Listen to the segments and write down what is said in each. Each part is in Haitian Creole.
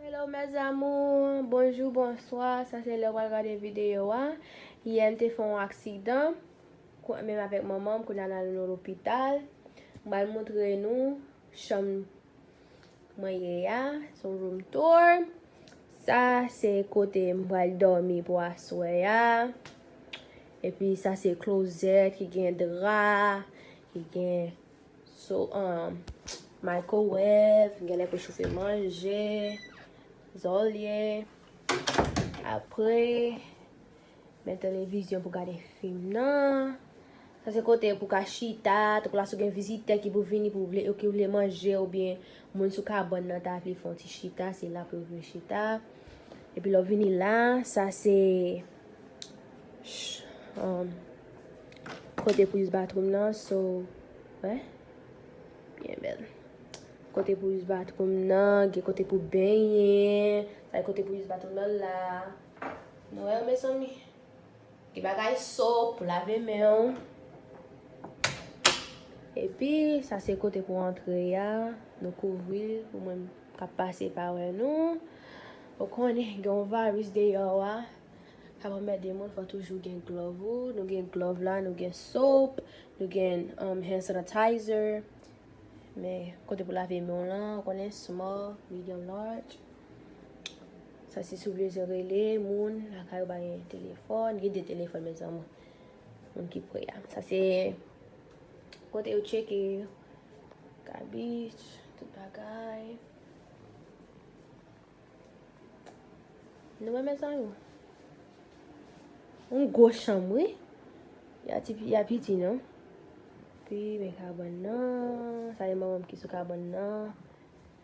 Hello mes amours, bonjou, bonswa, sa se lè wal gade videyo a Yè m te fè yon aksidan, menm avèk manman m, kounye a nan lopital M bal moutre nou chanm Mwen ye ya, son room tour. Sa se kote m pral dòmi pou aswè ya. E pi sa se closet ki gen dra, ki gen so, um, microwave, gen lè pou choufe manje, zòlye. Apre. Men televizyon pou gade fim nan. Sa se kote pou ka chita, tankou la si w gen vizitè ki pou vini pou vle, ki vle manje oubyen moun sou kabann nan ta vle fè yon ti chita, se la pou yo vin chita. Epi lè w vini la, sa se kote pou iz batroum nan, so, wè, byen bèl. Kote pou iz batroum nan, gen kote pou benyen, sa e kote pou iz batroum nan la. Noel mezanmi. Gen bagay so pou lave men w. Epi sa se kote pou antre ya. Nou kouvri l pou moun kap pase pa wè nou. Ou konnen gen yon virus deyò a. Kap anmède moun fò toujou gen glove ou. Nou gen glove la, nou gen soap, nou gen um hand sanitizer. Men kote pou lave men w lan, ou konnen small, medium, large. Sa se sou vle rele moun lakay yo bay telefòn. Gen de telefòn mezanmi. Moun ki pre a. Sa se kote yo tcheke kabich, tout bagay. Nou wè mezanmi. Yon gwo chanm wi. Ya piti non. Pi men kabann nan. Sa e manman m ki sou kabann nan.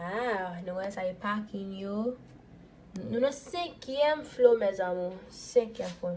Haa nou wè sa e pakin yo. Nou nan senkyèm flo mes amour. Senkyèm flo.